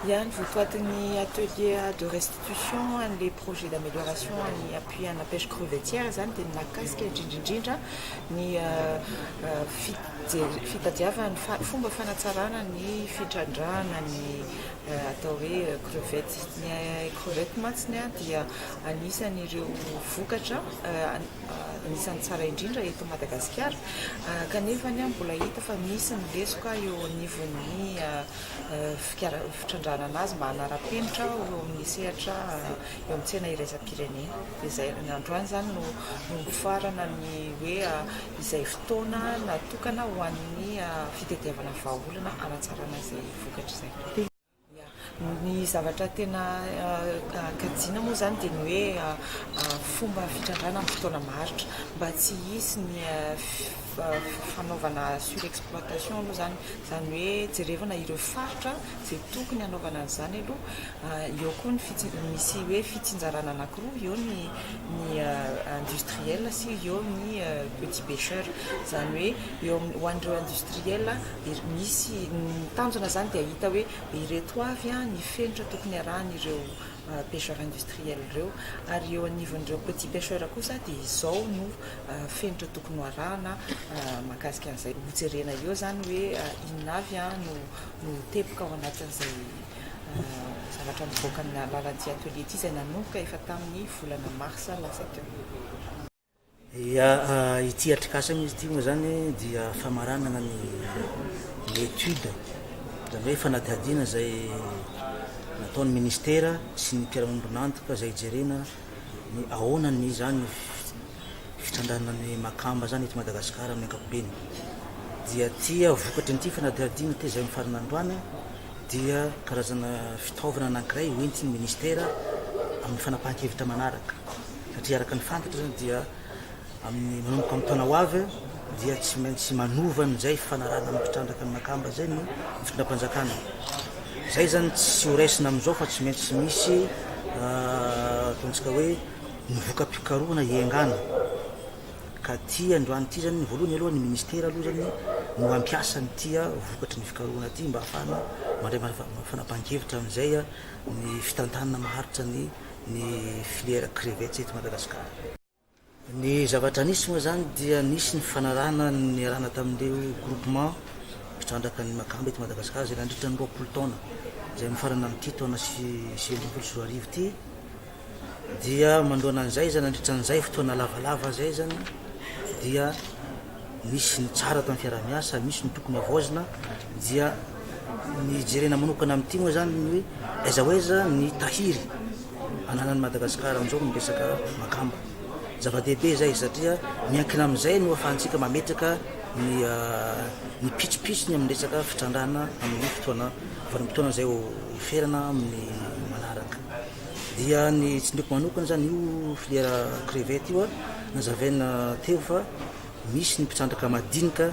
Ihany votoatin'ny atelier de restitution an'ilay projet d'amélioration an'ny appui ana pêche crevettière izany dia ny mahakasika indrindra indrindra ny fitadiavana ny fomba fanatsarana ny fitrandrahana ny atao hoe crevette. Ny crevette mantsy dia anisan'ireo vokatra anisan'ny tsara indrindra eto Madagasikara, kanefa mbola hita fa misy ny lesoka eo anivon'ny fitrandrahana azy mba hanara-penitra eo amin'ny sehatra eo amin'ny tsena iraisam-pirenena. Dia izay, androany izany no novofarana ny hoe izay fotoana natokana ho an'ny fitadiavana vahaolana hanatsarana izay vokatra izay. Ia. Ny zavatra tena kajiana moa izany dia ny hoe fomba fitrandrahana amin'ny fotoana maharitra mba tsy hisy ny fanaovana surexploitation aloha izany, izany hoe jerevana ireo faritra izay tokony hanaovana an'izany aloha. Eo koa ny fitsi-, misy hoe fitsinjarana anankiroa, eo ny ny industriel sy eo ny petit pecheur. Izany hoe eo amin'ny, ho an'ireo industriel, Misy ny tanjona izany dia hahita hoe ireto avy ny fenitra tokony arahan'ireo pêcheurs industriels ireo ary eo anivon'ireo petits pêcheurs kosa dia izao no fenitra tokony ho arahana mahakasika an'izay. Hojerena eo izany hoe inona avy no no teboka ao anatin'izay zavatra mivoaka amin'ny alalan'ity atelier ity izay nanomboka efa tamin'ny volana marsa lasa teo. Dia ity atrikasa mihitsy ity moa izany dia famaranana ny étude, izany hoe fanadihadiana izay nataon'ny ministera sy ny mpiara-miombon'antoka izay hijerena ny ahoana ny izany ny fitandrana ny makamba izany eto Madagasikara amin'ny ankapobeny. Dia ity vokatry an'ity fanadihadiana ity izay mifarana androany dia karazana fitaovana anankiray hoentin'ny ministera amin'ny fanapahan-kevitra manaraka. satria araka ny fantatra zany dia amin'ny manomboka amin'ny taona ho avy dia tsy maintsy manova an'izay fanarahana amin'ny mpitrandraka ny makamba zay ny fitondram-panjakana zay zany tsy horaisina amin'izao fa tsy maintsy misy ah, ataontsika hoe ny voka-pikarohana iengana ka ty androany ty zany ny voalohany aloha ny ministera aloha zany no ampiasa ny tia ah, vokatry ny fikarohana ty mba hafahana mandray fanapahan-kevitra amin'izay ah, ny fitantanana maharitra ny ny filière crevettes eto Madagasikara. Ny zavatra nisy moa izany dia nisy ny fanarahana niarahana tamin'ireo groupement mpitrandraka ny makamba eto Madagasikara izay nandritra ny roapolo taona izay mifarana amin'ity taona sy sivy ambin'ny folo sy roa arivo ity dia manoloana an'izay izany nandritra an'izay fotoana lavalava izay izany dia misy ny tsara atao ny fiarahamiasa, misy ny tokony havaozina, dia ny jerena manokana amin'ity moa zany ny hoe aiza ho aiza ny tahiry ananan'i Madagasikara amin'izao ny resaka makamba. Zava-dehibe izay satria miankina amin'izay no ahafahantsika mametraka ny ah, ny pitsopitsony amin'ny resaka fitrandrahana amin'ny fotoana vanim-potoana izay ho ferana amin'ny manaraka. Dia ny tsindriako manokana zany io filière crevette io a, Nazavaina teo fa misy ny mpitrandraka madinika,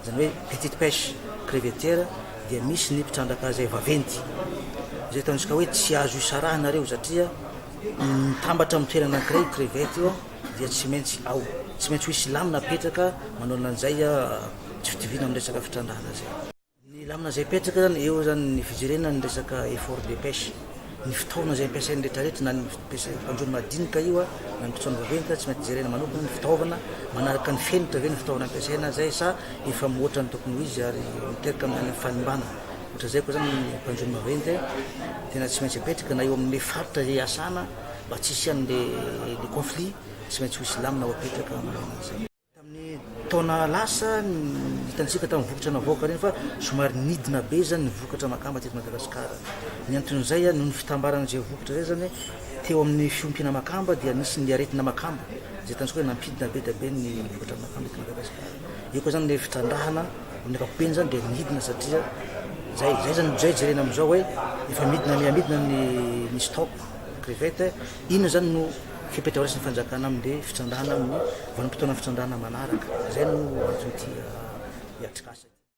izany hoe petite pêche crevetière, dia misy ny mpitrandraka izay vaventy. Izay ataontsika hoe tsy azo isarahana ireo satria mitambatra amin'ny toerana anankiray io crevette io dia tsy maintsy ao. Tsy maintsy ho hisy lamina apetraka manao an'izay tsy fitoviana amin'ny resaka fitrandrahana izay. Ny lamina izay apetraka zany eo zany ny fijerena ny resaka effort de pêche, ny fitaovana izay ampiasain'ny retraretra na ny ampiasain'ny mpanjono madinika io na ny mpisaona vaventy zany tsy maintsy jerena manokana ny fitaovana manaraka ny fenitra ve ny fitaovana ampiasaina zay sa efa mihoatra ny tokony ho izy ary miteraka amin'ny fanimbana ohatra zay koa zany ny mpanjono maventy tena tsy maintsy apetraka na eo amin'ny faritra izay iasana mba tsy hisian'le le conflit tsy maintsy ho hisy lamina ho apetraka amin'izay. Tamin'ny taona lasa, hitantsika tamin'ny vokatra navoaka ireny fa somary nidina be izany ny vokatra makamba teto Madagasikara. Ny anton'izay, noho ny fitambaran'izay vokatra izay izany, teo amin'ny fiompiana makamba dia nisy ny aretina makamba, izay hitantsika hoe nampidina be dia be ny vokatra makamba eto Madagasikara. Eo koa izany ilay fitrandrahana, amin'ny ankapobeny izany dia nidina satria izay, izay izany, izay jerena amin'izao hoe efa midina mihamidina ny ny stock crevette Inona izany no fepetra horaisin'ny fanjakana amin'ilay fitrandrahana amin'ny vanim-potoanan'ny fitrandrahana manaraka? Izay no antso ity atrikasa ity.